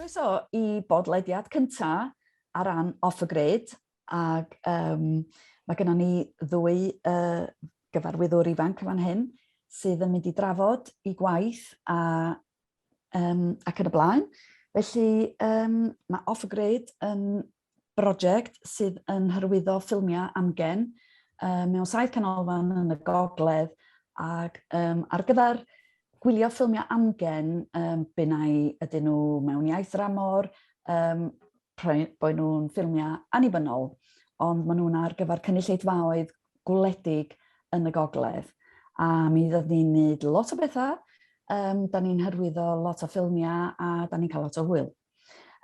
Croeso i bodlediad cynta ar ran Off the Grid ag yym ma' gynnon ni ddwy yy gyfarwyddwr ifanc yn fan hyn sydd yn mynd i drafod 'u gwaith a yym ac yn y blaen. Felly yym ma' Off the Grid yn brosiect sydd yn hyrwyddo ffilmiau amgen um, mewn saith canolfan yn y gogledd ac um, ar gyfer gwylio ffilmiau amgen, um, bynnau ydyn nhw mewn iaith ramor, um, bod nhw'n ffilmiau annibynnol, ond maen nhw'n ar gyfer cynulleidfaoedd gwledig yn y gogledd. A mi ddod ni'n gwneud lot o bethau, um, da ni'n hyrwyddo lot o ffilmiau a da ni'n cael lot o hwyl.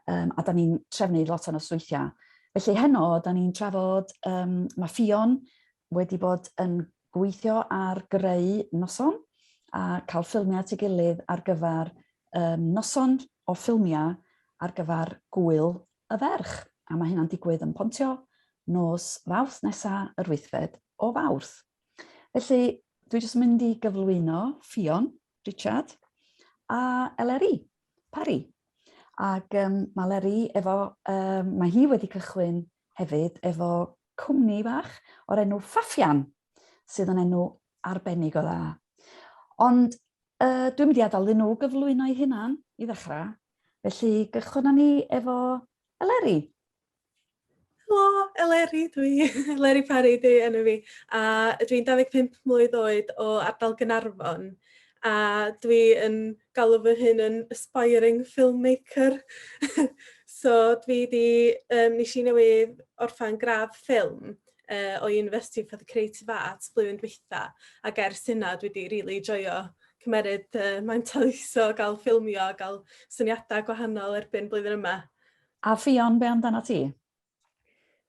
Um, a da ni'n trefnu lot o nosweithiau. Felly heno, da ni'n trafod, um, mae Ffion wedi bod yn gweithio ar greu noson a cael ffilmiau at ei gilydd ar gyfer um, noson o ffilmiau ar gyfer gwyl y ferch. A mae hynna'n digwydd yn Pontio nos fawrth nesaf yr wythfed o fawrth. Felly, dwi jyst yn mynd i gyflwyno Ffion, Richard a Eleri. Parry. Ac um, mae Leri efo, um, mae hi wedi cychwyn hefyd efo cwmni fach o'r enw Faffian, sydd yn enw arbennig o dda. Ond uh, dwi'n mynd i adael iddyn nhw gyflwyno'i hunan i ddechrau, felly gychwyn ni efo Eleri. Helo, Eleri dwi, Eleri Parry dwi enw fi, a dwi'n 25 mlwydd oed o ardal Gaernarfon, a dwi yn galw fy hun yn aspiring filmmaker. so dwi 'di um, nes i newydd orffen gradd ffilm uh, o University for the Creative Arts blwyddyn dwytha, ac ers hynna dwi 'di really joio cymeryd uh, mae'n taliso, gael ffilmio, gael syniadau gwahanol erbyn blwyddyn yma. A Ffion, be amdanat ti?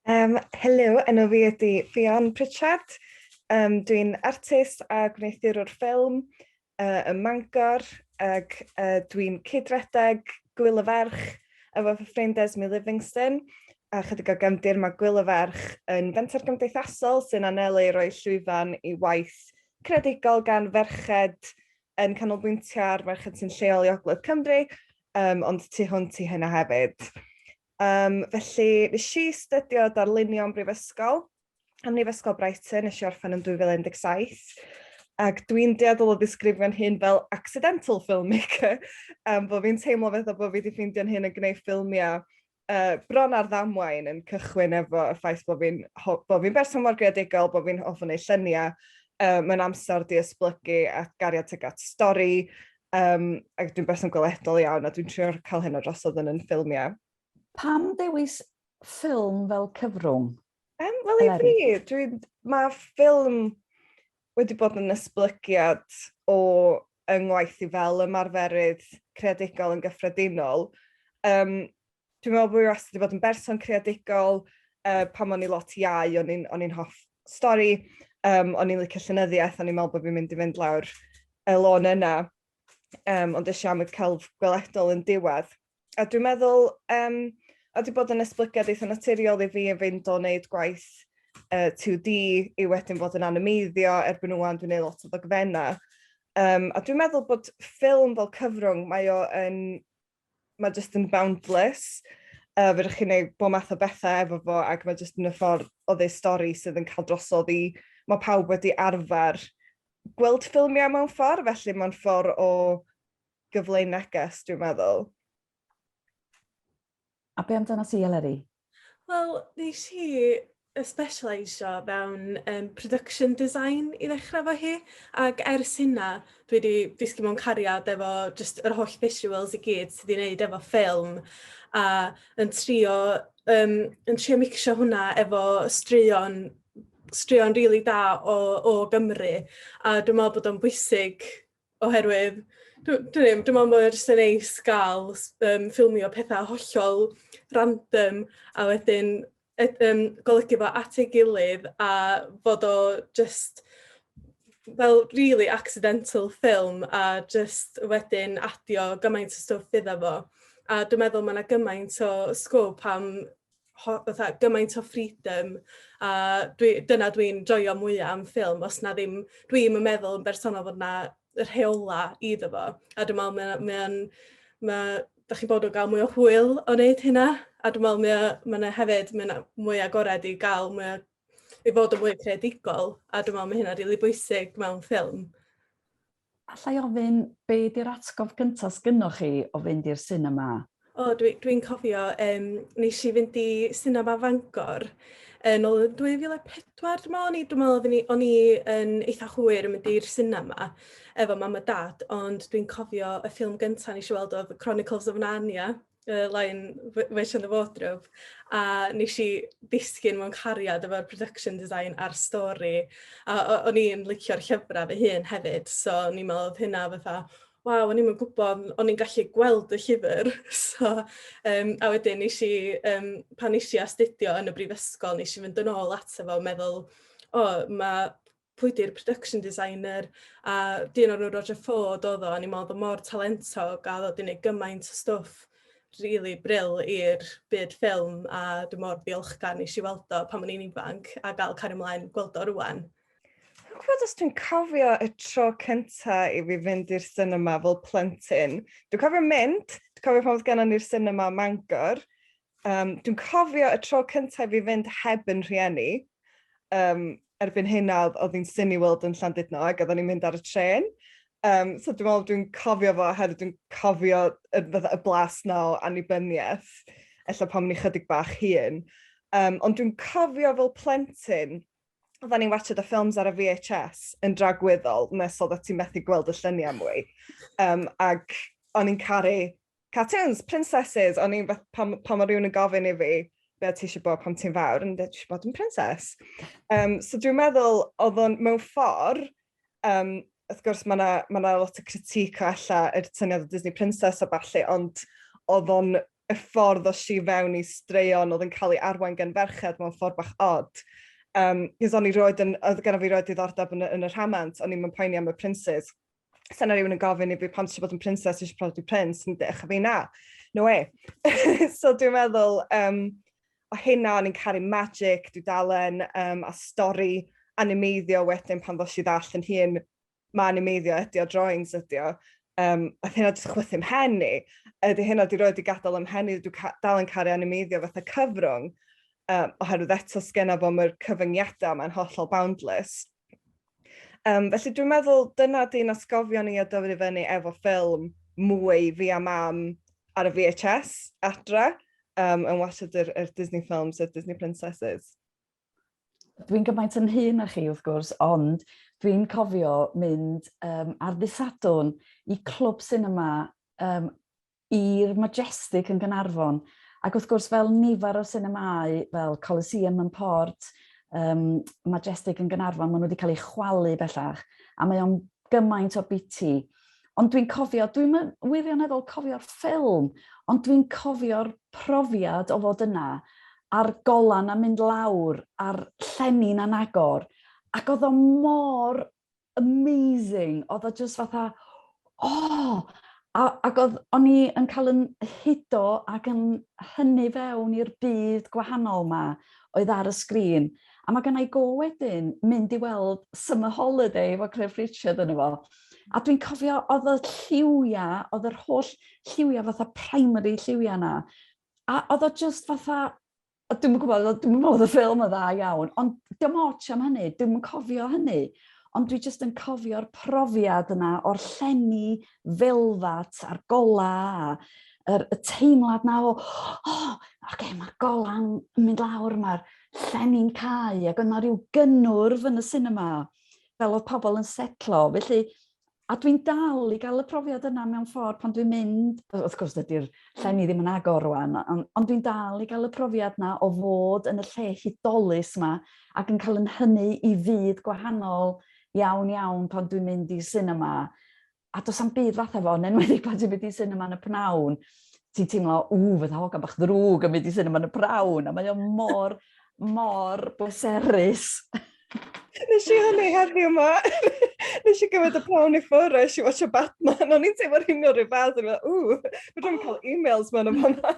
Um, helo, enw fi ydy Ffion Pritchard. Um, Dwi'n artist a gwneuthurwr ffilm uh, ym Mangor ac uh, dwi'n cydredeg Gwyl y Ferch efo fy ffrind Esme Livingston a chydig o gefndir mae Gwyl y Ferch yn fenter gymdeithasol sy'n anelu i roi llwyfan i waith credigol gan ferched yn canolbwyntio ar merched sy'n lleol i Ogledd Cymru, um, ond tu hwnt i hynna hefyd. Um, felly, nes i stydio darlunio yn brifysgol, am Nifysgol Brighton, nes i orffen yn 2017, ac dwi'n deadol o ddisgrifio'n hyn fel accidental filmmaker, um, bod fi'n teimlo fath o bod fi wedi ffeindio'n hyn yn gwneud ffilmiau uh, bron ar ddamwain yn cychwyn efo y ffaith bod fi'n bo fi berson mor greadigol, bod fi'n hoff yn ei lluniau, uh, mae'n amser di ysblygu a gariad teg at stori, um, ac dwi'n berson gweledol iawn a dwi'n trio cael hyn o drosodd yn yn ffilmiau. Pam dewis ffilm fel cyfrwng? Um, Wel, i fi, mae ffilm wedi bod yn esblygiad o yng ngwaith i fel ymarferydd creadigol yn gyffredinol. Um, dwi'n meddwl bod fi wastad wedi bod yn berson creadigol, uh, pan o'n i lot iau, o'n i'n, on hoff stori, um, o'n i'n licio llenyddiaeth, o'n i'n meddwl bod fi'n mynd i fynd lawr y lôn yna, um, ond eisiau am y celf gweledol yn diwedd. A dwi'n meddwl um, a di bod yn esblygiad eitha naturiol i fi yn fynd o wneud gwaith uh, 2D i wedyn fod yn animeiddio erbyn nhw'n dwi'n gwneud lot o ddogfenna. Um, a dwi'n meddwl bod ffilm fel cyfrwng, mae o yn, mae just yn boundless. Uh, fe chi'n gwneud bod math o bethau efo fo ac mae just yn y ffordd o ddeud stori sydd yn cael drosodd i, mae pawb wedi arfer gweld ffilmiau mewn ffordd, felly mae'n ffordd o gyfleu neges, dwi'n meddwl. A be amdano ti, Eleri? Wel, nes i y specialisio fewn um, production design i ddechrau fo hi, ac ers hynna dwi wedi disgyn mewn cariad efo just yr holl visuals i gyd sydd wedi wneud efo ffilm, a yn trio, um, yn trio mixio hwnna efo straeon straeon rili really da o, o Gymru a dwi'n meddwl bod o'n bwysig oherwydd dwi'n dwi ddim, dwi'n meddwl bod e jyst yn neis gael um, ffilmio pethau hollol random a wedyn et, um, golygu fo at ei gilydd a fod o just fel really accidental ffilm a just wedyn adio gymaint o stwff iddo fo. A dwi'n meddwl mae yna gymaint o sgwp am fatha gymaint o freedom a dwi, dyna dwi'n joio mwyaf am ffilm, os na ddim, dwi'n yn meddwl yn bersonol fod na rheola iddo fo. A dwi'n meddwl mae'n, mae mae, da chi bod o gael mwy o hwyl o wneud hynna. A dwi'n meddwl mae yna hefyd, mae yna mwy agored i gael mwy o, i fod yn mwy creadigol. A dwi'n meddwl mae hynna rili really bwysig mewn ffilm. Alla i ofyn, be di'r atgof gynta sgynnoch chi o fynd i'r sinema? O dwi dwi'n cofio yym nesh i fynd i sinema Fangor yn ol yn 2004 dwi me'wl o'n i dwi me'wl odden i o'n i yn eitha hwyr yn mynd i'r sinema efo mam a dad ond dwi'n cofio y ffilm gynta nesh i weld odd Chronicles of Narnia y line Witch in the Wardrobe a nes i ddisgyn mewn cariad efo'r production design a'r stori a o'n i'n licio'r llyfrau fy hun hefyd so o'n i'n meddwl oedd hynna fatha waw o'n i'n gwybod o'n i'n gallu gweld y llyfr so um, a wedyn nes i um, pan nes i astudio yn y brifysgol nes i fynd yn ôl ato fo meddwl o oh, mae pwy di'r production designer a dyn o'r enw Roger Ford oedd o a ni'n meddwl bod mor talentog a oedd o 'di wneud gymaint o stwff rili bril i'r byd ffilm a dwi mor ddiolchgar nes i weld o pan o'n i'n ifanc a gael cario mlaen gweld o rŵan. Dwi'n gwybod os dwi'n cofio y tro cynta i fi fynd i'r sinema fel plentyn. Dwi'n cofio mynd, dwi'n cofio pan oedd gennon ni'r sinema Mangor, Um, dwi'n cofio y tro cyntaf i fynd heb yn rhieni. Um, erbyn hyn a oedd hi'n syn i weld yn Llandudno ac oeddwn i'n mynd ar y tren. Um, so dwi'n meddwl dwi'n cofio fo oherwydd dwi'n cofio y, y blas na o annibyniaeth, ella pan o'n i chydig bach hun. Um, ond dwi'n cofio fel plentyn, oedden ni'n watched y ffilms ar y VHS yn dragwyddol, nes oedd ti methu gweld y lluniau mwy. Um, ac o'n i'n caru Cartoons, princesses, o'n i'n fath pan pan ma' rywun yn gofyn i fi be' o' ti isie bod pan ti'n fawr yn deud dwi isio bod yn princess. Yym so dwi'n meddwl odd o'n mewn ffor yym wrth gwrs ma' 'na ma' 'na lot o critique o ella yr syniad o Disney Princess a ballu ond odd o'n y ffordd o i fewn i straeon odd yn ca'l ei arwain gan ferched mewn ffor bach od. Yym 'c'os o'n i rioed yn odd gynno fi rioed diddordeb yn y yn y rhamant o'n i'm yn poeni am y princes. Sa'n na rhywun yn gofyn i fi pam ti eisiau bod yn princess, ti eisiau prodi prince, yn ddech fi na. No way. so dwi'n meddwl, um, o hynna, o'n i'n caru magic, dwi'n dalen, um, a stori animeiddio wedyn pan fos i ddall yn hun, mae animeiddio ydi o, drawings ydi o. Um, a hynna jyst chwythu mhen i. Ydy hynna di roed i gadael ym mhen i, dwi'n ca dal yn caru animeiddio fatha cyfrwng, um, oherwydd eto sgenna fo mae'r cyfyngiadau mae'n hollol boundless. Um, felly dwi'n meddwl dyna di'n asgofion ni o dyfu fyny efo ffilm mwy fi a mam ar y VHS adra um, yn washed yr, yr Disney films, yr Disney Princesses. Dwi'n gymaint yn hun a chi wrth gwrs, ond dwi'n cofio mynd um, ar ddisadwn i clwb cinema um, i'r Majestic yn Gaernarfon, ac wrth gwrs fel nifer o sinemâu fel Coliseum yn Port, um, Majestic yn Gaernarfon, maen nhw wedi cael eu chwalu bellach, a mae o'n gymaint o biti. Ond dwi'n cofio, dwi'n wirioneddol cofio'r ffilm, ond dwi'n cofio'r profiad o fod yna, a'r golan a mynd lawr, a'r llenni'n anagor, ac oedd o mor amazing. Oedd o just fatha, oh! A, ac oedd, o'n i yn cael yn hudo ac yn hynny fewn i'r byd gwahanol yma oedd ar y sgrin. A mae gennau go wedyn mynd i weld Summer Holiday efo Cliff Richard yn efo. A dwi'n cofio, oedd y lliwiau, oedd yr holl lliwiau fatha primary lliwiau yna. A oedd o just fatha, o, dwi'n gwybod, dwi'n meddwl y ffilm yn dda iawn, ond dim ots am hynny, dwi'n cofio hynny. Ond dwi jyst yn cofio'r profiad yna o'r llenni felfat a'r gola a yr, y teimlad na o, o, oh, okay, mae'r golan yn mynd lawr, mae'r llenni'n cael, ac yna rhyw gynnwrf yn y cinema, fel oedd pobl yn setlo. Felly, A dwi'n dal i gael y profiad yna mewn ffordd pan dwi'n mynd, wrth gwrs dydy'r llenni ddim yn agor rwan, ond, ond dwi'n dal i gael y profiad yna o fod yn y lle hudolus yma ac yn cael yn hynny i fyd gwahanol iawn iawn pan dwi'n mynd i sinema. A does am byd fatha fo, yn enwedig pan ti'n mynd i sinema yn y pnawn, ti'n teimlo, ww, fydda hogan bach ddrwg yn mynd i sinema yn y prawn, a mae o mor, mor bleserus. Wnes i hynny heddiw ma. Wnes i gymryd y pawn i ffwrdd, wnes i watch o Batman, o'n i'n teimlo'r hyn o'r rhyfedd, o'n i'n meddwl, ww, fe dwi'n cael e-mails ma'n o'n fanna.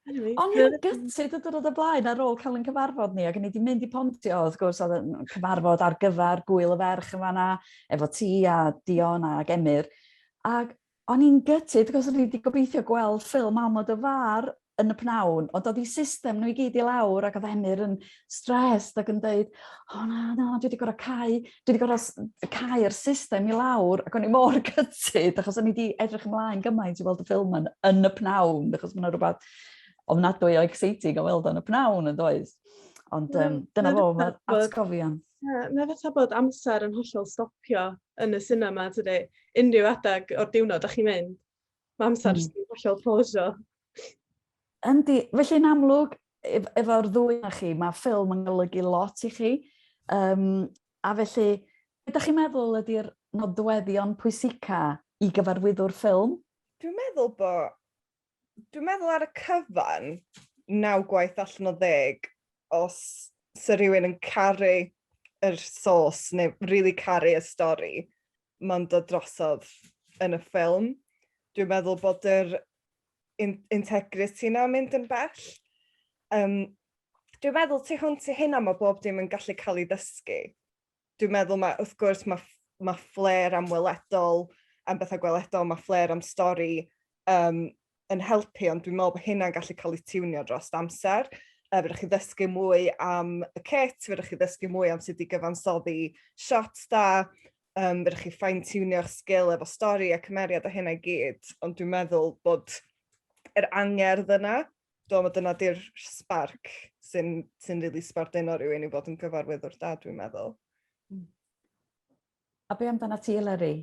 O'n i'n gytid y dyrod y blaen ar ôl cael yn cyfarfod ni, ac o'n i wedi mynd i pontio, wrth gwrs, oedd yn cyfarfod ar gyfer gwyl y ferch yn fanna, efo ti a Dion a Gemyr. Ac o'n i'n gytid, cos o'n i wedi gobeithio gweld ffilm am o dy far yn y pnawn, ond oedd i system nhw i gyd i lawr ac oedd Emyr yn stressed ac yn dweud, o na, na, dwi wedi gorau cael, dwi wedi gorau cael yr system i lawr ac o'n i mor gytid achos o'n i wedi edrych ymlaen gymaint i weld y ffilm yn, yn y pnawn, achos mae'n rhywbeth ofnadwy o exciting o weld o'n y pnawn yn does. Ond um, dyna fo, mae'r atgofion. Ie, mae fatha bod amser yn hollol stopio yn y sinema tydi? Unrhyw adeg o'r diwrnod dach chi'n mynd, mae amser mm. yn hollol pausio. Yndi, felly'n amlwg, ef efo'r ddwy na chi, mae ffilm yn golygu lot i chi. Um, a felly, beth ydych chi'n meddwl ydy'r nodweddion pwysica i gyfarwyddwr ffilm? Dwi'n meddwl bod Dwi'n meddwl ar y cyfan, naw gwaith allan o ddeg, os sa rhywun yn caru yr sos neu rili caru y stori, mae'n dod drosodd yn y ffilm. Dwi'n meddwl bod yr in integrity 'na mynd yn bell. Um, dwi'n meddwl tu hwnt i hynna mae bob dim yn gallu cael ei ddysgu. dwi'n meddwl ma' wrth gwrs ma' ff- ma' flair am weledol am betha gweledol ma' flair am stori yym yn helpu ond dwi'n me'wl bo' hynna'n gallu ca'l 'i tiwnio drost amser yy fedrwch chi ddysgu mwy am y cit fedrwch chi ddysgu mwy am sud i gyfansoddi shots da yym fedrwch chi fine tiwnio'ch sgil efo stori a cymeriad a hynna i gyd ond dwi'n meddwl bod yr angerdd yna Do ma' dyna 'di'r sbarc sy'n sy'n rili sbarduno rywun i fod yn gyfarwyddwr da dwi'n meddwl. Hmm. A be' amdanat ti Eleri?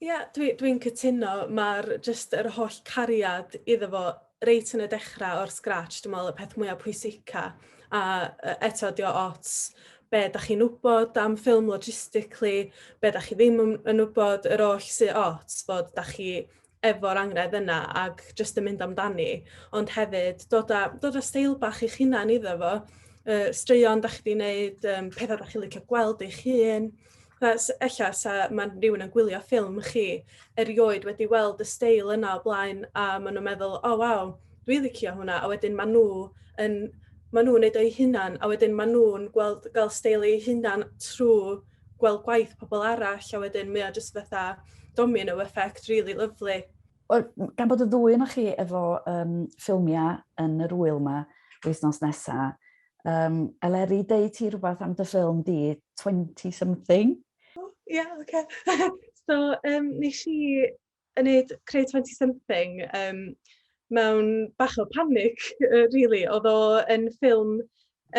Ia dwi dwi'n cytuno ma'r jyst yr holl cariad iddo fo reit yn y dechra o'r scratch dwi me'wl y peth mwya pwysica a yy eto 'di o ots be' dach chi'n wbod am ffilm logistically be' dach chi ddim yn yn wbod yr oll sy ots fod dach chi efo'r angredd yna ac jyst yn mynd amdani, ond hefyd dod â, dod â steil bach i'ch hunan iddo fo, uh, straeon da chi wedi gwneud, um, pethau da chi'n licio gweld eich hun, Ella sa mae rhywun yn gwylio ffilm chi erioed wedi weld y steil yna o blaen a maen nhw'n meddwl, o oh, waw, dwi licio hwnna, a wedyn maen nhw yn maen nhw'n neud o'i hunan, a wedyn maen nhw'n gweld gael steil eu hunan trwy gweld gwaith pobl arall a wedyn mae o jyst fatha domino effect rili lyfli. Wel, gan bod y ddwy ynoch chi efo um, ffilmiau yn yr wyl yma wythnos nesa, um, Eleri, deu ti rhywbeth am dy ffilm di, 20 something? Ie, oh, yeah, oce. Okay. so, um, nes i yn wneud Creu Twenty Something yym mewn bach o panic rili. Oedd o yn ffilm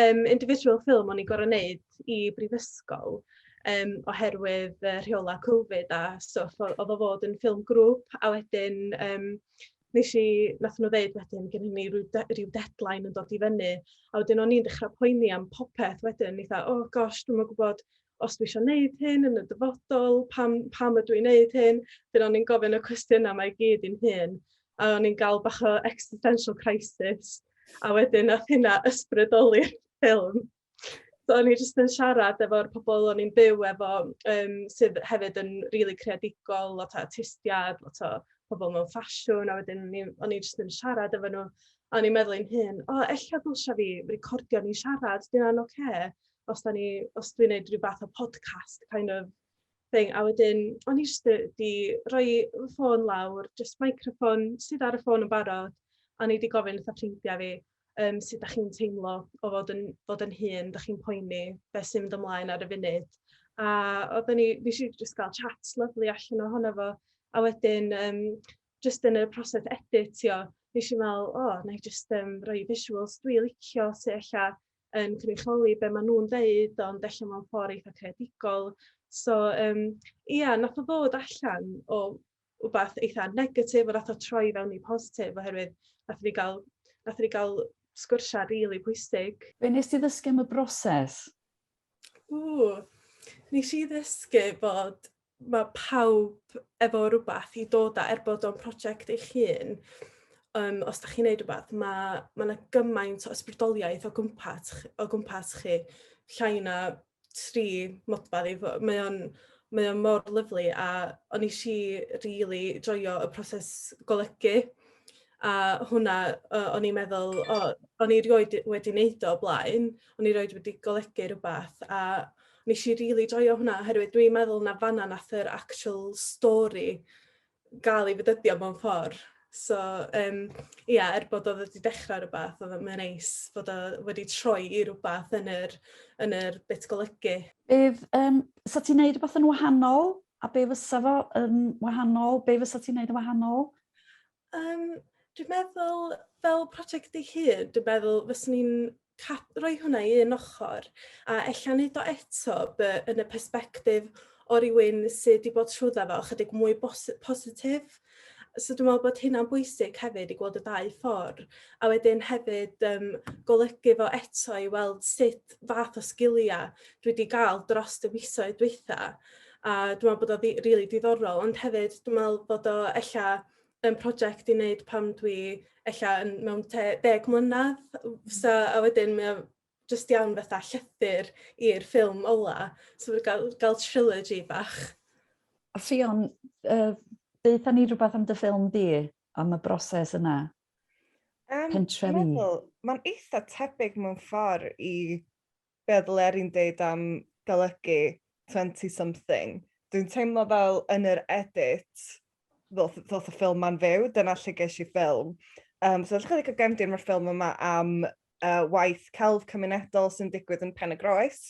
yym individual film o'n i'n gorfod wneud i brifysgol yym oherwydd yy rheolau covid a stwff. Oedd o fod yn ffilm grŵp a wedyn yym wnes i... wnaethon nhw ddeud wedyn ma' gennyn ni ryw de- ryw deadline yn dod i fyny a wedyn o'n i'n dechrau poeni am popeth wedyn. O'n i fatha "o gosh dwi'm yn gwybod os dwi eisiau gwneud hyn yn y dyfodol, pam, pam ydw i'n gwneud hyn, dyn o'n i'n gofyn y cwestiynau mae i gyd i'n hun, a o'n i'n gael bach o existential crisis, a wedyn nath hynna ysbrydoli'r ffilm. So o'n i jyst yn siarad efo'r pobl o'n i'n byw efo, um, sydd hefyd yn rili really creadigol, lot o artistiad, lot o pobl mewn ffasiwn, a wedyn o'n i jyst yn siarad efo nhw, a o'n i'n meddwl i'n hun, o, ella ddylsa fi recordio ni siarad, dyna'n oce. Okay os, da ni, os dwi'n gwneud rhyw fath o podcast kind of thing. A wedyn, o'n i jyst wedi rhoi fy ffôn lawr, jyst microffon sydd ar y ffôn yn barod, a ni wedi gofyn wrth y ffrindiau fi um, sut da chi'n teimlo o fod yn, fod yn hun, da chi'n poeni, beth sy'n mynd ymlaen ar y funud. A oedden ni, fi eisiau jyst gael chat lyflu allan ohono fo, a wedyn, um, jyst yn y proses editio, fi eisiau meddwl, o, oh, na i jyst um, rhoi visuals dwi licio, sy'n eich yn cynrychioli be maen nhw'n ddeud ond ella mewn ffordd eitha' creadigol. So yym ia nath o ddod allan o wbath eitha' negatif a nath o troi i fewn i positif oherwydd nathon ni ga'l nathon ni ga'l sgwrsia' rili pwysig. Be' wnest ti ddysgu am y broses? Ww! Nesh i ddysgu bod mae pawb efo rhywbeth i dod â, er bod o'n prosiect eich hun, um, os da chi'n neud rhywbeth, mae ma yna gymaint o ysbrydoliaeth o gwmpas, o gwmpas chi, llai na tri modfa ddi. Mae o'n mae o'n mor lyflu a o'n i si really joio y proses golygu a hwnna uh, o'n i'n meddwl, o, oh, o'n i rioed wedi wneud o blaen, o'n i rioed wedi golygu rhywbeth a Nes i rili joio hwnna oherwydd dwi'n meddwl na fanna nath yr actual stori ga'l ei fedyddio mewn ffor. So yym ia er bod o wedi dechra rwbath odd o mae o'n neis fod o wedi troi i rwbath yn yr yn yr bit golygu. Bydd yym sa ti'n neud rwbath yn wahanol a be' fysa fo yn wahanol be' fysa ti'n neud yn wahanol? Yym dwi'n meddwl fel project ei hun dwi'n meddwl fyswn i'n ca- rhoi hwnna i un ochr a ella neud o eto by- yn y persbectif o rywun sy' 'di bod trwyddo fo chydig mwy bos- positif. So dwi me'wl bod hynna'n bwysig hefyd i gweld y ddau ffor a wedyn hefyd yym golygu fo eto i weld sut fath o sgilia dwi 'di ga'l drost y misoedd dwetha. a dwi'n meddwl bod o rili really diddorol, ond hefyd dwi'n meddwl bod o ella yn prosiect i wneud pan dwi ella yn mewn te deg mlynedd, so, a wedyn mae o jyst iawn fatha llythyr i'r ffilm ola, so wedi gael, gael trilogy bach. A Ffion, uh, deutha ni rhywbeth am dy ffilm di, am y broses yna, um, pentrefi. Mae'n eitha tebyg mewn ffordd i be oedd Leri'n deud am golygu twenty something, dwi'n teimlo fel yn yr edit ddoth ddoth y ffilm 'ma'n fyw, dyna lle ges i ffilm. Yym so edrychwch ar gefndir ma'r ffilm yma am yy waith celf cymunedol sy'n digwydd yn Pen-y-groes.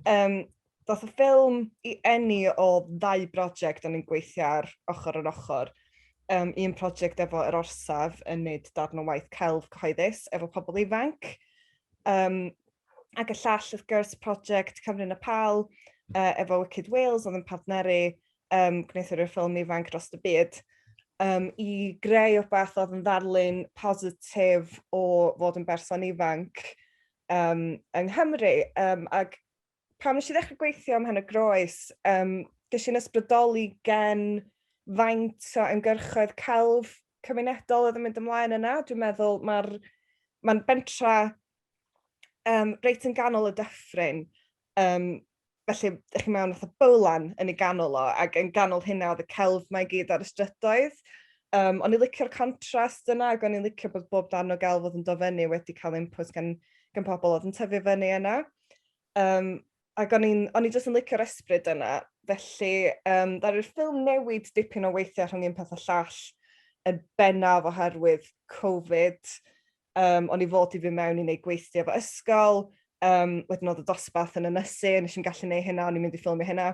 Yym Ddaeth y ffilm i eni o ddau brosiect o'n i'n gweithio ar ochr yn ochr. Um, un prosiect efo yr orsaf yn neud darn o waith celf cyhoeddus efo pobl ifanc. Um, ac y llall, wrth gwrs, prosiect Cymru yn y Pal uh, efo Wicked Wales oedd yn partneru um, gwneithwyr y ffilm ifanc dros y byd um, i greu o'r beth oedd yn ddarlun positif o fod yn berson ifanc um, yng Nghymru. Um, ac Pam nes i ddechrau gweithio ym Mhen y Groes? Um, Ges i'n ysbrydoli gen faint o ymgyrchoedd celf cymunedol oedd yn mynd ymlaen yna. Dwi'n meddwl mae'r ma bentra um, reit yn ganol y dyffryn. Um, felly, ych chi mewn fatha bowlan yn ei ganol o, ac yn ganol hynna oedd y celf mae i gyd ar y strydoedd. Um, o'n i'n licio'r contrast yna, ac o'n i'n licio bod bob dan o gelf oedd yn dofynu wedi cael input gan, gan pobl oedd yn tyfu fyny yna. Um, ac o'n i'n, o'n i jyst yn licio'r esbryd yna. Felly, um, ddaru'r ffilm newid dipyn o weithiau rhwng un peth a llall yn bennaf oherwydd Covid. Um, o'n i fod i fi mewn i wneud gweithio fo ysgol, um, wedyn oedd y dosbarth yn ynysu, nes i'n gallu neud hynna, o'n i'n mynd i ffilmio hynna.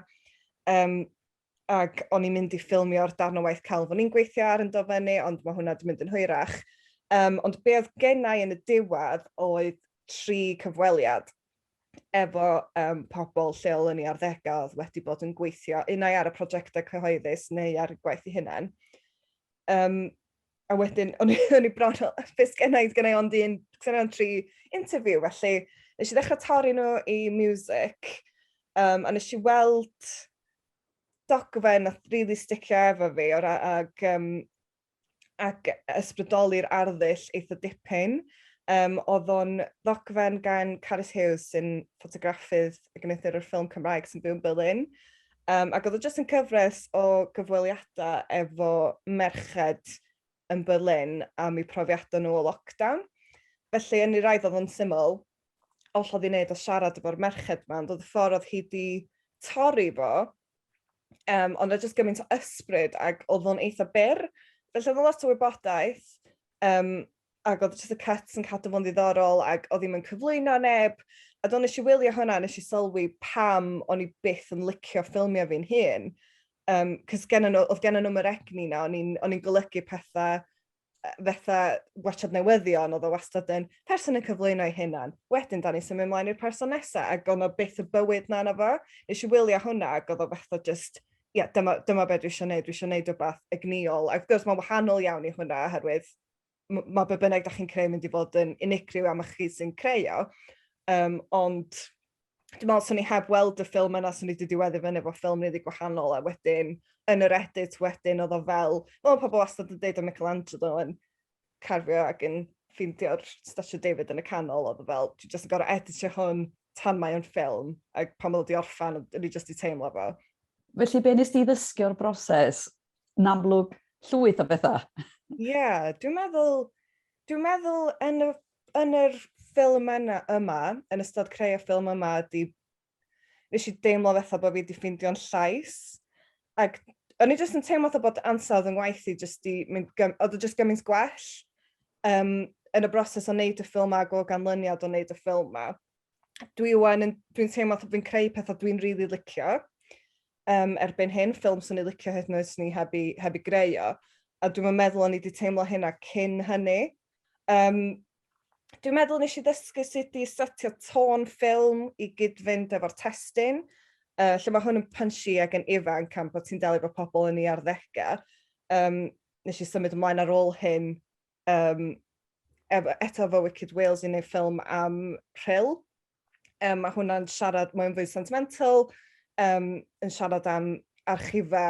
Um, ac o'n i'n mynd i ffilmio'r darn o waith celf o'n i'n gweithio ar yn do fyny, ond mae hwnna wedi mynd yn hwyrach. Um, ond be oedd gennau yn y diwedd oedd tri cyfweliad efo um, pobl lleol yn ei arddegau oedd wedi bod yn gweithio unau ar y prosiectau cyhoeddus neu ar y gwaith i hunain. Um, a wedyn o'n i o'n i bron fel yy be' sgennai odd gennai ond un sgennai ond tri interview felly nesh i ddechra torri n'w i miwsic yym a nesh i weld dogfen nath rili sticio efo fi o ra- ag yym ag yy ysbrydoli'r arddull eitha dipyn yym o'dd o'n ddogfen gan Carys Hughes sy'n ffotograffydd ac yn ffilm Cymraeg sy'n byw yn Berlin Um, ac oedd o jyst yn cyfres o gyfweliadau efo merched yn Berlin am eu profiadau nhw o lockdown. Felly, yn ei raidd oedd o'n syml, all oedd ei wneud o siarad efo'r merched yma, ond oedd y ffordd oedd hi wedi torri fo, um, ond oedd jyst gymaint o ysbryd ac oedd o'n eitha byr. Felly, oedd o'n lot o wybodaeth, um, ac odd jyst y cuts yn cadw fo'n ddiddorol ag odd 'i'm yn cyflwyno neb a do nesh i wylio hwnna a nesh i sylwi pam o'n i byth yn licio ffilmio fi'n hun yym 'c'os gennon n'w odd gennon nw'm yr egni 'na o'n i'n o'n i'n golygu pethe yy fetha watsiad newyddion odd o wastad yn person yn cyflwyno 'i hunan wedyn 'dan ni'n symud mlaen i'r person nesa ag o' 'na byth y bywyd 'na na fo. Nesh i wylio hwnna ag odd o fetha jyst ie dyma dyma be' dwi isio neud dwi isio neud rwbath egnïol a wrth gwrs ma'n wahanol iawn i hwnna oherwydd m- ma' be' bynnag 'dach chi'n creu mynd i fod yn unigryw am chi sy'n creu o. Um, ond dwi'n meddwl swn i heb weld y ffilm yna swn i wedi diweddu fyny efo ffilm rili gwahanol a wedyn yn yr edit wedyn oedd o fel fel pobl wastad yn deud o Michelangelo yn carfio ac yn ffeindio'r Statue David yn y canol oedd o fel dwi jyst yn gorau editio hwn tan mae o'n ffilm ac pan oedd o 'di orffan o'n i jyst 'di teimlo fo. Felly be' nes di ddysgu o'r broses yn amlwg llwyth o bethau. Ie, yeah, dwi'n meddwl, dwi'n meddwl yn y, yn yr ffilm yna, yma, yn ystod creu y ffilm yma, di, nes i deimlo fatha bod fi wedi ffeindio'n llais. Ac o'n i jyst yn teimlo fatha bod ansawdd yn ngwaith i jyst di mynd, oedd o jyst gymaint gwell um, yn y broses o wneud y ffilm ag o ganlyniad o wneud y ffilm ma. Dwi wan, dwi'n teimlo fatha fi'n creu pethau dwi'n rili really licio. um, erbyn hyn, ffilm sy'n ei licio hyd yn oes ni heb i, heb i greu o. A dwi'n meddwl o'n i wedi teimlo hynna cyn hynny. Um, dwi'n meddwl nes i ddysgu sut i setio tôn ffilm i gyd-fynd efo'r testyn, uh, lle mae hwn yn punchy ac yn ifanc am bod ti'n delio fo pobl yn ei arddegau. Um, nes i symud ymlaen ar ôl hyn Yym ef- eto efo Wicked Wales yn ei ffilm am Rhyl. Yym ma' hwnna'n siarad mae'n fwy sentimental yym yn siarad am archife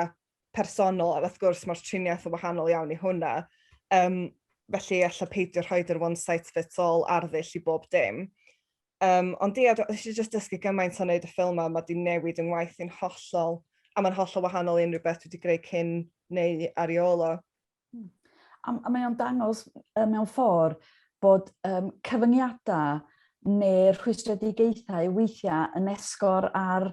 personol a wrth gwrs mae'r triniaeth yn wahanol iawn i hwnna. Yym felly ella peidio rhoid yr one size fits all arddull i bob dim. Yym ond ia do- nes i jyst dysgu gymaint o wneud y ffilm 'ma, ma' 'di newid yng ngwaith i'n hollol a mae'n hollol wahanol i unrhyw beth dwi wedi greu cyn neu ar ei ôl o. Hmm. A, a mae o'n dangos uh, mewn ffordd bod um, cyfyngiadau neu'r rhwystredigaethau weithiau yn esgor ar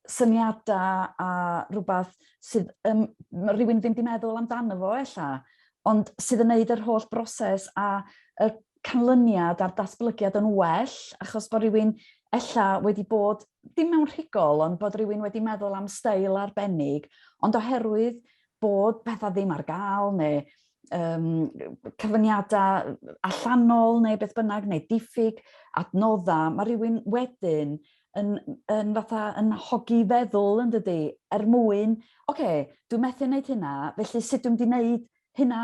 syniadau a rhywbeth sydd um, rhywun ddim wedi meddwl amdano fo ella, ond sydd yn neud yr holl broses a y canlyniad a'r datblygiad yn well, achos bod rhywun ella wedi bod, dim mewn rhigol, ond bod rhywun wedi meddwl am stael arbennig, ond oherwydd bod pethau ddim ar gael neu um, cyfyngiadau allanol neu beth bynnag neu diffyg adnoddau, mae rhywun wedyn yn, yn fatha yn hogi feddwl yn dydy, er mwyn, oce, okay, dwi'n methu wneud hynna, felly sut dwi'n di wneud hynna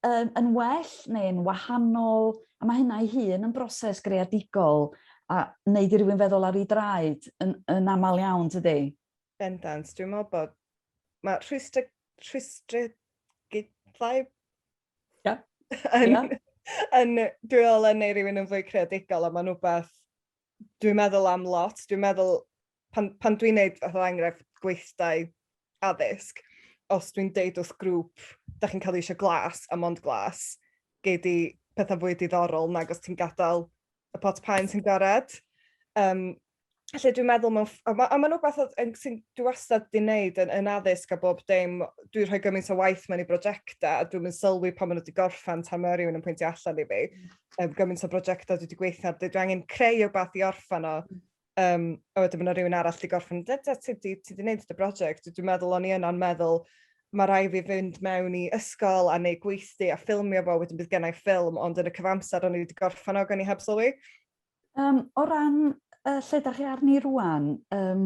um, yn well neu yn wahanol, a mae hynna ei hun yn broses greadigol a wneud i rywun feddwl ar ei draed yn, yn aml iawn, tydi? Bendant, dwi'n meddwl bod... Mae rhwystr... rhwystr... gydlau... Ia. yn, yeah. yn, dwi'n meddwl yn ei rhywun yn fwy creadigol, a mae'n rhywbeth dwi'n meddwl am lot. Dwi'n meddwl, pan, pan dwi'n neud fath o enghraifft gweithdau addysg, os dwi'n deud wrth grŵp, da chi'n cael eisiau glas a mond glas, gei di pethau fwy diddorol nag os ti'n gadael y pot paen sy'n gored. Um, Felly dwi'n meddwl mewn... A mae a ma rhywbeth sy'n dwi wastad di wneud yn, yn addysg a bob dim, dwi'n rhoi gymaint o waith mewn i brosiectau a dwi'n yn sylwi pan maen nhw wedi gorffen tan mae rhywun yn pwyntio allan i fi. Um, gymaint o brosiectau dwi wedi gweithio ar, dwi angen creu o beth i orffen o. Um, a wedyn mae yna rhywun arall wedi gorffen, da, da, ti wedi ti wneud y brosiect. Dwi'n meddwl o'n i yna'n meddwl, mae rai fi fynd mewn i ysgol a neu gweithdy a ffilmio fo, wedyn bydd gennau ffilm, ond yn y cyfamser o'n i wedi gorffen o gan i heb sylwi. Um, o ran uh, lle da chi arni rwan, um,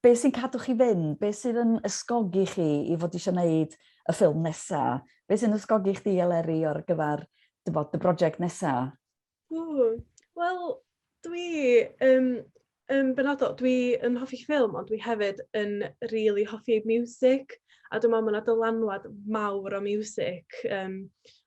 be sy'n cadw chi fynd, be sydd yn ysgogi chi i fod eisiau gwneud y ffilm nesa? Be sy'n ysgogi chdi Eleri o'r gyfer dy bod y brosiect nesa? Wel, dwi um, um, benodol, dwi yn hoffi ffilm, ond dwi hefyd yn rili really hoffi music, a dwi'n meddwl mae yna dylanwad mawr o music um,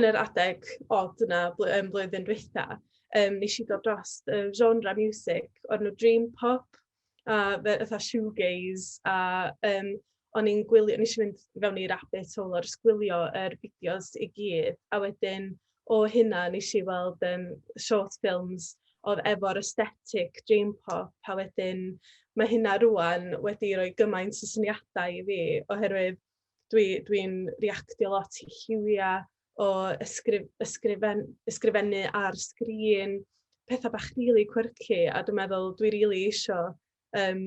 yn yr adeg od yna bl- yym blwyddyn dwytha, yym nes i dod dros y genre miwsig o'r enw dream pop a fe- fatha shoegaze a yym o'n i'n gwylio... wnes i fynd i fewn i rabbit hole o jyst gwylio yr fideos i gyd, a wedyn o hynna wnes i weld yym short films oedd efo'r aesthetic dream pop, a wedyn ma' hynna rŵan wedi rhoi gymaint o syniadau i fi oherwydd... dwi dwi'n reactio lot i lliwiau o ysgrif- ysgrifen- ysgrifennu ar sgrin, petha bach rili quirky, a dwi'n meddwl dwi rili isio yym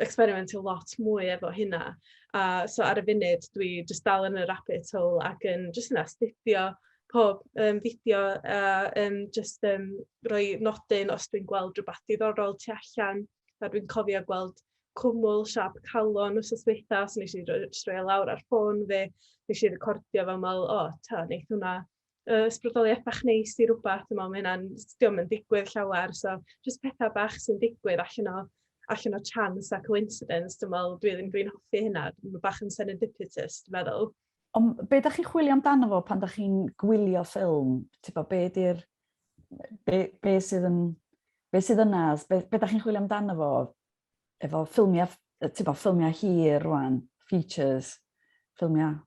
ecsberimentio lot mwy efo hynna. A so ar y funud dwi jyst dal yn y rabbit hole ac yn jyst yn astudio pob yym fideo a yym jyst yym rhoi nodyn os dwi'n gweld rywbeth diddorol tu allan. A dwi'n cofio gweld cwmwl siâp calon wythnos dwytha, so wnes i roi jyst roi o lawr ar ffôn fi, wnes i recordio fo a me'wl, o, ta, neith hwnna yy ysbrydoliaeth bach neis i rwbath, dwi'n me'wl ma' hynna'n, 'dio'm yn digwydd llawer, so jyst petha bach sy'n digwydd allan o allan o chance a coincidence dwi'n me'wl dwi ddim dwi'n hoffi hynna, ma' bach yn serendipitous dwi'n meddwl. Ond be da chi'n chwilio amdano fo pan da chi'n gwylio ffilm? Tipo, be di'r... Be, be sydd yn... Be sydd yna? Be, be da chi'n chwilio amdano fo? Efo ffilmiau, tipo, ffilmiau hir rwan, features, ffilmiau...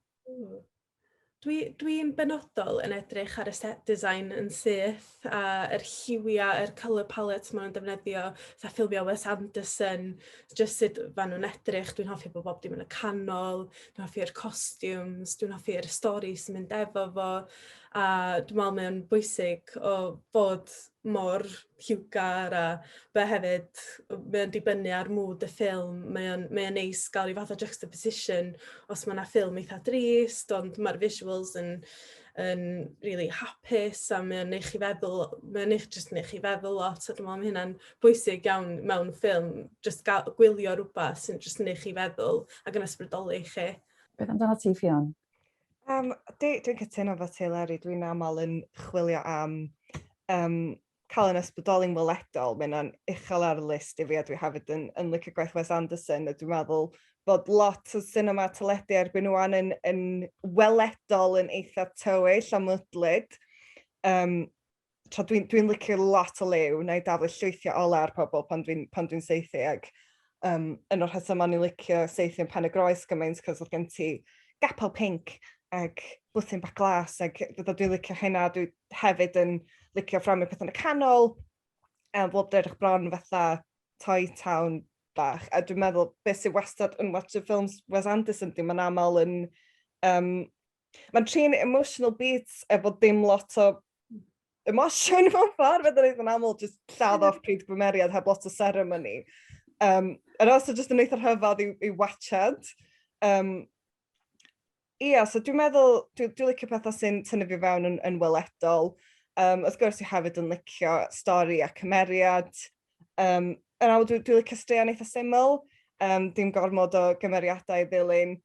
Dwi'n dwi benodol yn edrych ar y set design yn syth. a yr lliwia, yr colour palette ma' nw'n defnyddio, fatha ffilmio Wes Anderson, jyst sut ma' nw'n edrych, dwi'n hoffi bo' bob dim yn y canol, dwi'n hoffi'r costumes, dwi'n hoffi'r stori sy'n mynd efo fo a dwi me'wl mae o'n bwysig o fod mor lliwgar a fe hefyd yy mae o'n dibynnu ar mood y ffilm mae o'n mae o'n neis ga'l ryw fath o juxtaposition os ma' 'na ffilm eitha drist ond ma'r visuals yn yn rili hapus a mae o'n neu' chi feddwl mae o'n neud jyst neu' chi feddwl lot a dwi me'wl ma' hynna'n bwysig iawn mewn ffilm jyst ga'l gwylio rwbath sy'n jyst neu' chi feddwl ag yn ysbrydoli chi. Beth amdanat ti Ffion? Yym dwi dwi'n cytuno efo ti Leri dwi'n amal yn chwilio am yym cael yn ysbrydoli'n weledol, mae hynna'n uchel ar y list i fi a dwi hefyd yn, yn licio gwaith Wes Anderson a dwi'n meddwl bod lot o cinema teledu erbyn ŵan yn, yn weledol yn eitha tywyll a mwdlyd. Um, tra dwi'n dwi, licio lot o lew, na i daflu llwythiau ola ar pobl pan dwi'n dwi seithi ac um, yn o'r hysaf ma'n i licio seithi yn pen y groes gymaint cos oedd gen ti gapel pink ac bwthyn bach glas ac fydda dwi'n licio hynna, dwi'n hefyd yn licio fframio pethe yn y canol a bob tro edrych bron fatha toy town bach a dwi'n meddwl be' sy wastad yn Watch of Films Wes Anderson 'di ma'n amal yn yym ma'n trin emotional beats efo dim lot o emosiwn mewn ffordd fedrai ddeud yn aml jyst lladd off pryd gwymeriad heb lot o seremoni. Yym yr os o jyst yn eitha rhyfadd i'w i'w watshad. Yym. Ia, so dwi'n meddwl, dwi, dwi licio pethau sy'n tynnu fi fewn yn, yn weledol. Um, wrth gwrs, i hefyd yn licio stori a cymeriad. Um, yn awr, dwi'n dwi licio straeon eitha syml, um, dim gormod o gymeriadau i ddilyn.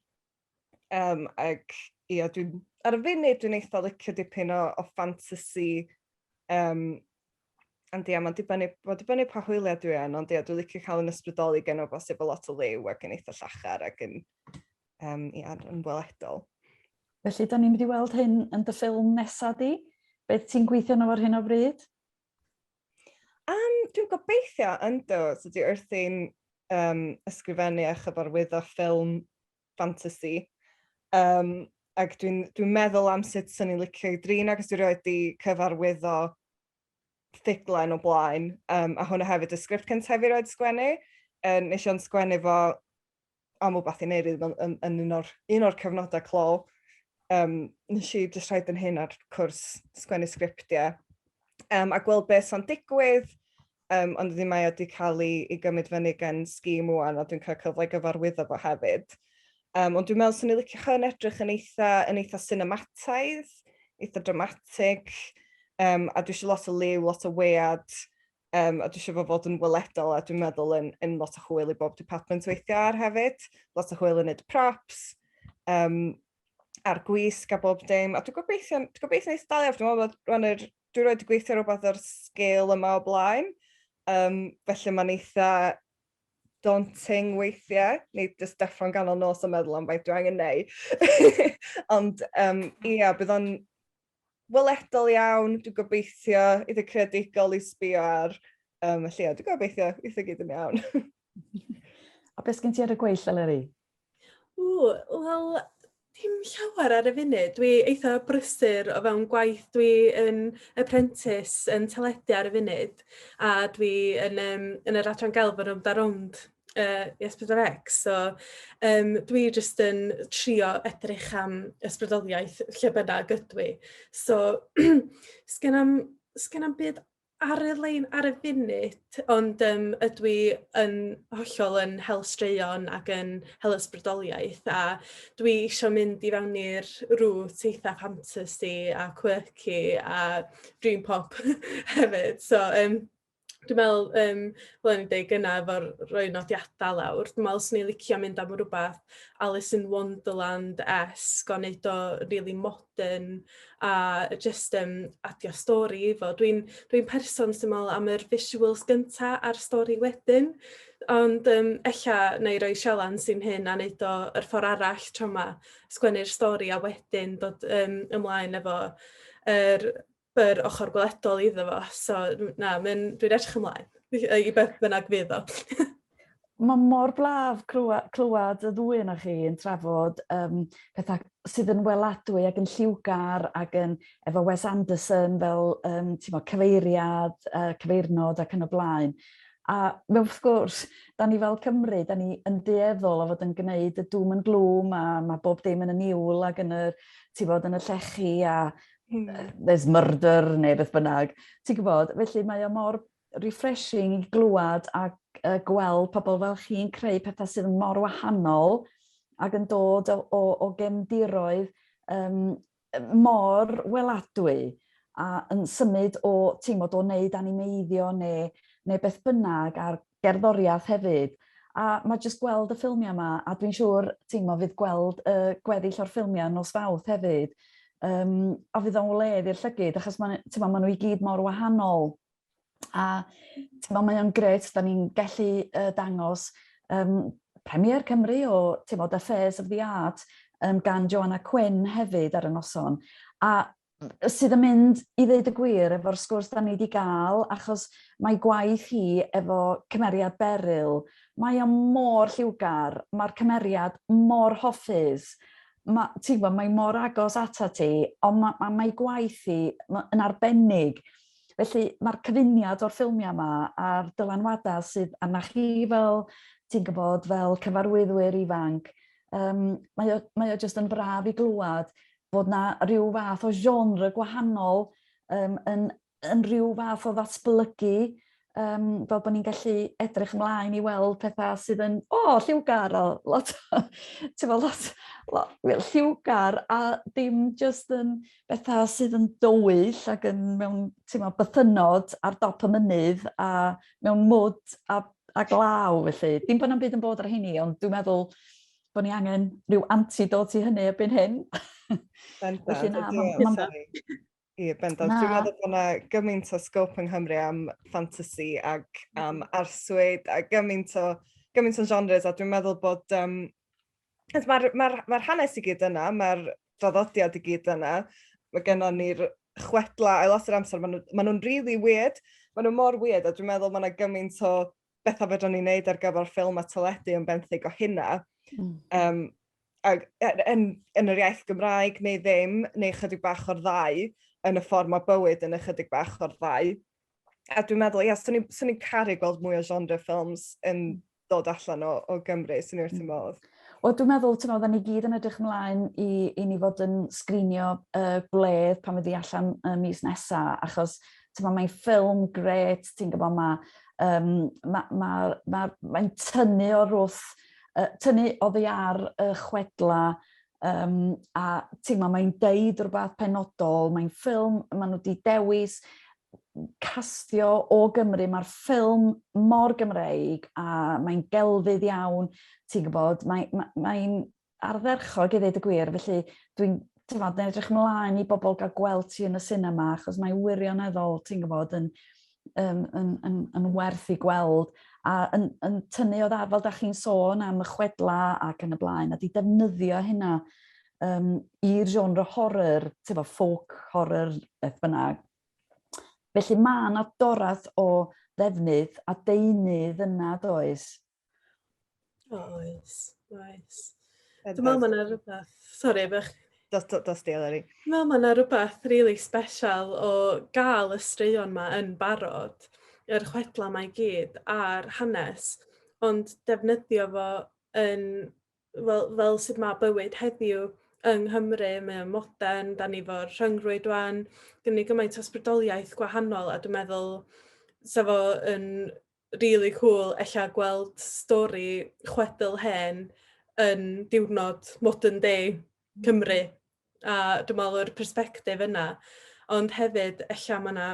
Um, ac ia, dwi'n, ar y funud, dwi'n eitha licio dipyn o, o fantasy. Um, ond ia, mae'n dibynnu, ma dibynnu pa hwyliau dwi yn, ond ia, dwi'n licio cael yn ysbrydoli gen o bosib o lot o liw ac yn eitha llachar ac yn um, i adran yn weledol. Felly, da ni'n mynd i weld hyn yn dy ffilm nesaf di. Beth ti'n gweithio yno ar hyn o bryd? Um, dwi'n gobeithio yn do, so dwi wrthi'n um, ysgrifennu a chyfarwyddo ffilm fantasy. Um, ac dwi'n dwi meddwl am sut sy'n ni'n licio i drin ac dwi'n rhoi di cyfarwyddo ffuglen o blaen, um, a hwnna hefyd y sgript cyntaf i roed sgwennu. Um, nes i'n sgwennu fo am wbath i neud yn yn yn un o'r un o'r cyfnoda clo yym nesh i jyst rhoid 'yn hun ar cwrs sgwennu sgriptie yym a gweld be' sa'n digwydd yym ond wedyn mae o 'di ca'l 'i 'i gymyd fyny gen Scheme ŵan a dwi'n ca'l cyfle i gyfarwyddo fo hefyd. Yym ond dwi'n me'wl swn i licio chi yn edrych yn eitha yn eitha sinemataidd, eitha dramatig yym a dwi isio lot o liw, lot o wead Um, a dwi eisiau fo fod yn weledol a dwi'n meddwl yn, yn lot o chwyl i bob department weithiau ar hefyd. Lot o chwyl yn neud props, um, a'r gwisg a bob dim. A dwi'n gobeithio, dwi'n gobeithio neis dalio, dwi'n meddwl bod rhan yr, dwi'n rhoi gweithio rhywbeth o'r sgil yma o blaen. Um, felly mae'n eitha daunting weithiau, neu just deffro'n ganol nos yn meddwl am faint dwi angen neu. Ond um, ia, bydd o'n weledol iawn, dwi'n gobeithio, eitha creadigol i sbio ar. Um, felly, dwi'n gobeithio, eitha gyd yn iawn. A beth sgyn ti ar y gweill, Eleri? O, wel, dim llawer ar y funud. Dwi eitha brysur o fewn gwaith. Dwi yn apprentice yn teledu ar y funud a dwi yn, um, yn yr adran gelf yn rownd a rownd uh, S4C. So, um, dwi jyst yn trio edrych am ysbrydoliaeth lle bynnag ydw i. So, sgen am, sgen am byd ar y lein ar y funud, ond um, ydw i yn hollol yn hel straeon ac yn hel ysbrydoliaeth a dwi eisiau mynd i fewn i'r rŵt eitha fantasy a quirky a dream pop hefyd. So, um, dwi'n meddwl yym fel o'n i'n deud gynna' efo'r rhoi nodiada' lawr dwi me'wl 'swn i'n licio mynd am rwbath Alice in Wonderland-esque o neud o rili modern a yy jyst yym adio stori i fo dwi'n dwi'n person sy'n me'wl am yr visuals gynta' a'r stori wedyn ond yym ella 'nai roi sialens i'm hun a neud o yr ffor arall tro 'ma sgwennu'r stori a wedyn dod yym ymlaen efo yr yr ochr gweledol iddo fo. So, na, dwi'n edrych ymlaen i beth bynnag fydd o. Mae mor blaf clywed y ddwy yna chi yn trafod um, pethau sydd yn weladwy ac yn lliwgar ac yn efo Wes Anderson fel um, mo, cyfeiriad, uh, cyfeirnod ac yn y blaen. A mewn wrth gwrs, da ni fel Cymru, da ni yn dueddol o fod yn gwneud y dŵm yn glwm a mae bob dim yn y niwl ac yn y, ti fod, yn y llechi a hmm. there's murder neu beth bynnag. Ti'n gwybod, felly mae o mor refreshing i glywed a uh, gweld pobl fel chi'n creu pethau sydd yn mor wahanol ac yn dod o, o, o gemdiroedd um, mor weladwy a yn symud o, ti'n bod, o wneud animeiddio neu, neu beth bynnag ar gerddoriath hefyd a mae jyst gweld y ffilmiau yma a dwi'n siŵr ti'n mo fydd gweld y gweddill o'r ffilmiau nos fawth hefyd um, a fydd o'n wledd i'r llygyd achos mae ma nhw i gyd mor wahanol a ti'n mo mae o'n gret da ni'n gallu uh, dangos um, Premier Cymru o ti'n mo, The Fairs of the Art um, gan Joanna Quinn hefyd ar y noson a sydd yn mynd i ddeud y gwir efo'r sgwrs da ni wedi gael achos mae gwaith hi efo cymeriad Beryl, mae o mor lliwgar, mae'r cymeriad mor hoffus, ma'... ti'n gwybod, mae mor agos ata ti, ond ma' ma' mae gwaith hi ma' yn arbennig. Felly mae'r cyfuniad o'r ffilmiau yma a'r dylanwadau sydd arnach chi fel ti'n gwybod fel cyfarwyddwyr ifanc yym mae o mae o jyst yn braf i glywed fod na rhyw fath o genre gwahanol um, yn, yn rhyw fath o ddatblygu um, fel bod ni'n gallu edrych ymlaen i weld pethau sydd yn, o, oh, lliwgar, o, lot, ti'n fawr, lot, lot, well, lliwgar, a dim just yn bethau sydd yn dywyll ac yn mewn, ti'n fawr, bythynod ar dop y mynydd a mewn mwd a, a glaw, felly. Dim bod na'm byd yn bod ar hynny, ond dwi'n meddwl, bod ni angen rhyw antidot i hynny erbyn hyn. Bendant, Felly, na, ma, ma, ma, Ie, bendant. Dwi'n meddwl bod yna gymaint o sgop yng Nghymru am ffantasi ac mm-hmm. am arswyd a gymaint o, gymaint o genres a dwi'n meddwl bod... Um, Mae'r ma, ma, ma hanes i gyd yna, mae'r draddodiad i gyd yna. Mae gennym ni'r chwedla a lot o'r amser, maen nhw'n ma nhw really weird. Maen nhw mor weird a dwi'n meddwl mae yna gymaint o betha fedran ni neud ar gyfer ffilm a teledu yn benthyg o hynna. Mm. Um, ag, e, yn, yn yr iaith Gymraeg neu ddim, neu chydig bach o'r ddau, yn y ffordd mae bywyd yn ychydig bach o'r ddau. A dwi'n meddwl, ia, swn i'n ni caru gweld mwy o genre ffilms yn hmm. dod allan o, o Gymru, swn i'n wrth y hmm. modd. Wel, dwi'n meddwl, ti'n meddwl, ni gyd yn edrych ymlaen i, i ni fod yn sgrinio uh, gwledd pan fyddi allan y mis nesaf, achos Ti'n mae'n ffilm gret, ti'n gwybod, mae um, ma, ma, ma, ma tynnu o'r wrth, uh, tynnu oddi ar y chwedla, um, a ti'n ma, mae'n deud rhywbeth penodol, mae'n ffilm, maen nhw wedi dewis castio o Gymru, mae'r ffilm mor Gymreig a mae'n gelfydd iawn, ti'n gwybod, mae'n mae, mae ardderchog i ddweud y gwir, felly dwi'n t'mod yn edrych ymlaen i bobl gael gweld ti yn y sinema achos mae wirioneddol ti'n gwybod yn yn, yn, yn, yn werth i gweld a yn, yn tynnu o dda fel da chi'n sôn am y chwedla ac yn y blaen a di defnyddio hynna um, i'r genre horror, ti'n fo, folk horror, beth bynnag. Felly mae yna dorath o ddefnydd a deunydd yna does O oes, oes. Dwi'n meddwl mae yna rhywbeth... Sori, bech... Dos, dos, dos di, Eleri. Dwi'n meddwl mae yna rhywbeth rili really special o gael y straeon yma yn barod, yr chwedlau mae gyd a'r hanes, ond defnyddio fo yn, fel, fel sydd mae bywyd heddiw yng Nghymru, mae o'n modern, da ni fo'r rhyngrwyd wan, gynnu gymaint o sbrydoliaeth gwahanol a dwi'n meddwl sa fo yn rili cŵl ella gweld stori chwedl hen yn diwrnod modern day hmm. Cymru a dwi me'wl o'r perspectif yna ond hefyd ella ma' 'na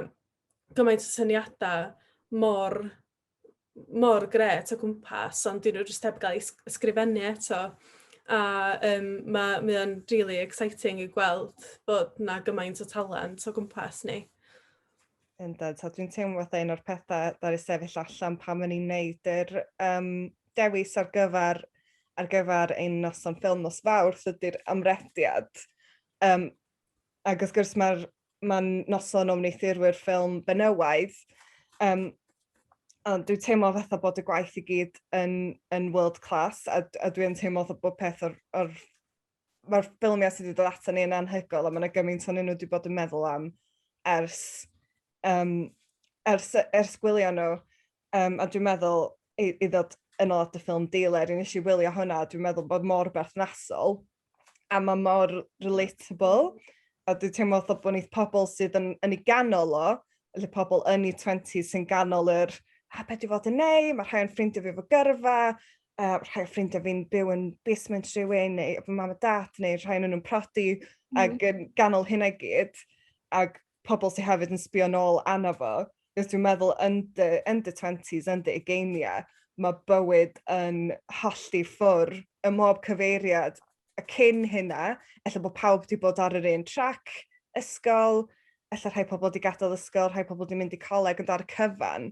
gymaint o syniada mor mor gret o gwmpas ond 'dyn nhw jyst heb gael ei sgrifennu eto a um, mae mae o'n really exciting i gweld bod 'na gymaint o talent o gwmpas ni. Yndan, so dwi'n teimlo fatha un o'r pethau ddaru sefyll allan pan o'n i'n neud yr um, dewis ar gyfer, ar gyfer ein noson ffilm nos fawrth ydy'r amrediad. Um, ac wrth gwrs mae'r mae noson o wneithurwyr ffilm benywaidd, um, ond dwi'n teimlo fatha bod y gwaith i gyd yn, yn world class a, a dwi'n teimlo bod peth o'r, or mae'r ffilmiau sydd wedi dod ato ni yn anhygoel a mae yna gymaint o'n nhw wedi bod yn meddwl am ers, um, ers, ers gwylio nhw. Um, a dwi'n meddwl i, i ddod yn ôl at y ffilm Dealer, nes i wylio hwnna, dwi'n meddwl bod mor berthnasol a mae mor relatable. A dwi'n teimlo fatha bod ni'n pobl sydd yn, yn ei ganol o, lle pobl yn ei 20 sy'n ganol yr a beth dwi'n fod yn neu, mae rhai o'n ffrindiau fi fo gyrfa, a rhai o ffrindiau fi'n byw yn basement rhywun, neu fy mam a dat, neu rhai nhw'n prodi, mm. ac yn ganol hynna gyd, ac pobl sy'n hefyd yn sbio nôl anna fo. Nes dwi'n meddwl, yn dy, yn dy 20s, yn dy ugeiniau, mae bywyd yn hollti ffwr y mob cyfeiriad y cyn hynna, efallai bod pawb wedi bod ar yr un trac, ysgol, efallai rhai pobl wedi gadael ysgol, rhai pobl wedi mynd i coleg yn dar cyfan,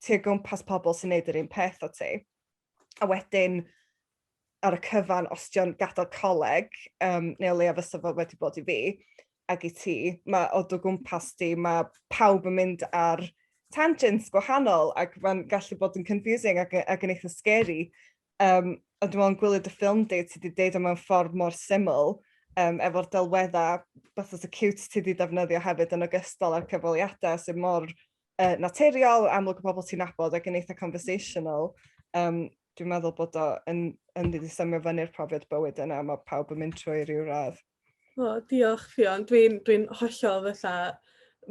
ti o gwmpas pobl sy'n neud yr un peth â ti. A wedyn ar y cyfan os dio'n gadal coleg um, neu o leia fysa fo wedi bod i fi ag i ti, mae o dy gwmpas di, mae pawb yn mynd ar tangents gwahanol ac mae'n gallu bod yn confusing ac, ac yn eitha scary. Um, ond dwi'n meddwl yn gwylio dy ffilm di, ti wedi deud o mewn ffordd mor syml um, efo'r delweddau beth oedd y cute ti wedi defnyddio hefyd yn ogystal â'r cyfaliadau sy'n mor uh, naturiol, amlwg o bobl ti'n nabod ac yn eitha conversational. Um, dwi'n meddwl bod o yn, yn ddi symud fyny'r profiad bywyd yna, mae pawb yn mynd trwy rhyw radd. O, diolch, Fion. Dwi'n dwi, dwi hollol fatha...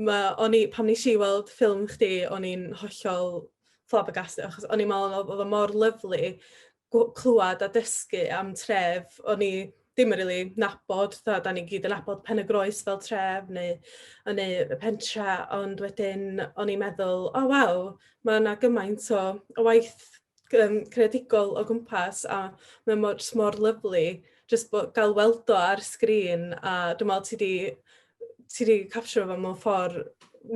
Ma, o'n i, pam nes i weld ffilm chdi, o'n i'n hollol flabbergasted, achos o'n i'n meddwl oedd o mor lyflu, clywed a dysgu am tref o'n i ddim yn rili nabod, tha 'dan ni gyd yn nabod Pen-y-groes fel tref neu yn neu y pentre ond wedyn o'n i'n meddwl o waw ma' 'na gymaint o o waith yym creadigol o gwmpas a mae mor jys mor lyfli jyst bo- ga'l weld o ar sgrin a dwi me'wl ti 'di ti wedi capture fo mewn ffor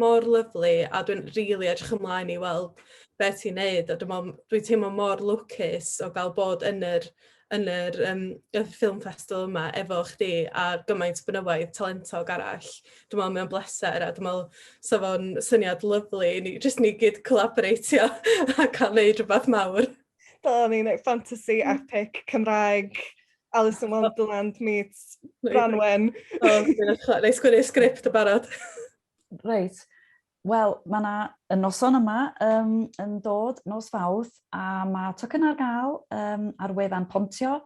mor lyfli a dwi'n rili edrych ymlaen i weld be' ti'n neud a dwi me'wl m- dwi'n teimlo mor lwcus o ga'l bod yn yr yn yr yym y ffilm festival yma efo chdi a gymaint o fenywaidd talentog arall. Dwi me'wl mae o'n bleser a dwi me'wl sa fo'n syniad lyfli i ni jyst ni gyd collaboreitio a ca'l neud rwbath mawr. Fel o'n i'n yy fantasy epic Cymraeg Alice in Wonderland meets Branwen. O, neu sgwini sgript y barod. Reit. Wel, mae yna y noson yma um, yn dod nos fawth a mae tocyn ar gael um, ar wefan Pontio.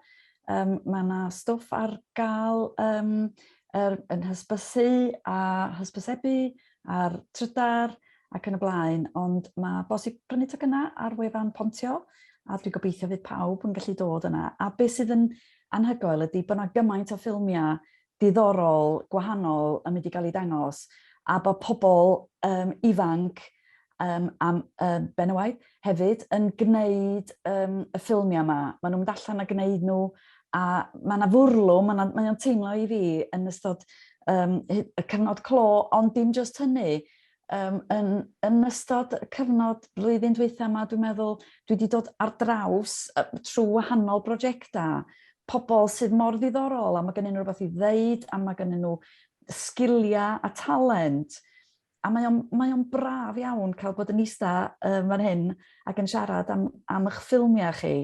Um, mae yna stwff ar gael um, er, yn hysbysu a hysbysebu a'r trydar ac yn y blaen, ond mae bosib prynu tocynnau ar wefan Pontio, a dwi'n gobeithio fydd pawb yn gallu dod yna. A beth sydd yn anhygoel ydy bod yna gymaint o ffilmiau diddorol, gwahanol yn mynd i gael ei dangos, a bod pobl um, ifanc um, am um, ben y waith, hefyd yn gwneud um, y ffilmiau yma. Maen nhw'n mynd allan a gwneud nhw, a mae yna fwrlwm, mae o'n teimlo i fi yn ystod um, y cyfnod clo, ond dim just hynny, um, yn, yn ystod y cyfnod blwyddyn dweitha yma, dwi'n meddwl, dwi wedi dod ar draws trwy wahanol brosiectau, pobl sydd mor ddiddorol, a mae gen nhw rhywbeth i ddeud, a mae gen nhw sgiliau a talent, a mae o'n, mae o'n braf iawn cael bod yn eista um, fan hyn ac yn siarad am, am eich ffilmiau chi.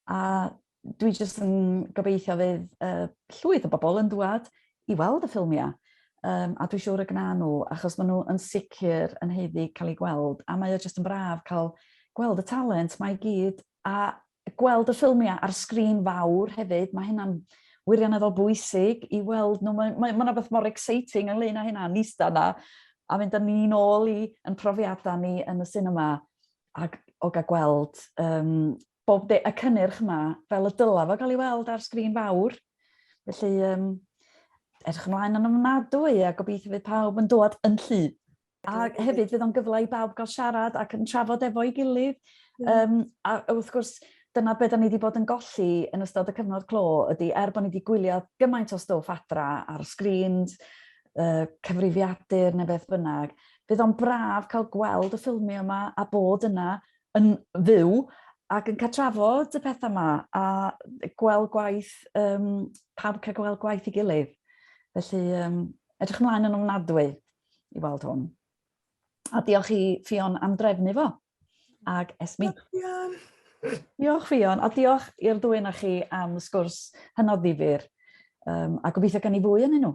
A dwi jyst yn gobeithio fydd uh, llwyth o bobl yn dwad i weld y ffilmiau. Um, a dwi'n siŵr y gna nhw, achos maen nhw yn sicr yn heiddi cael ei gweld. A mae o jyst yn braf cael gweld y talent mae gyd a gweld y ffilmiau ar sgrin fawr hefyd, mae hynna'n wirioneddol bwysig i weld nhw. Mae, mae, mae yna beth mor exciting ynglyn â hynna, nista yna, a mynd â ni'n ôl i yn profiadau ni yn y cinema ac o gael gweld um, bob de, y cynnyrch yma fel y dyla fo gael ei weld ar sgrin fawr. Felly, um, edrych ymlaen yn ymnadwy a gobeithio fydd pawb yn dod yn llu. A hefyd fydd o'n gyfle i bawb gael siarad ac yn trafod efo'i gilydd. Mm. Um, a wrth gwrs, dyna beth da ni wedi bod yn golli yn ystod y cyfnod clo ydy, er bod ni wedi gwylio gymaint o stwff adra ar sgrins, uh, cyfrifiadur neu beth bynnag, bydd o'n braf cael gweld y ffilmio yma a bod yna yn fyw ac yn catrafod y pethau yma a gweld gwaith, um, pawb cael gweld gwaith i gilydd. Felly, um, edrych ymlaen yn ofnadwy. i weld hwn. A diolch i Ffion am drefnu fo. Ag Esmi. Diolch Ffion, a diolch i'r ddwy na chi am sgwrs hynod ddifur, um, a gobeithio gan i fwy yn nhw.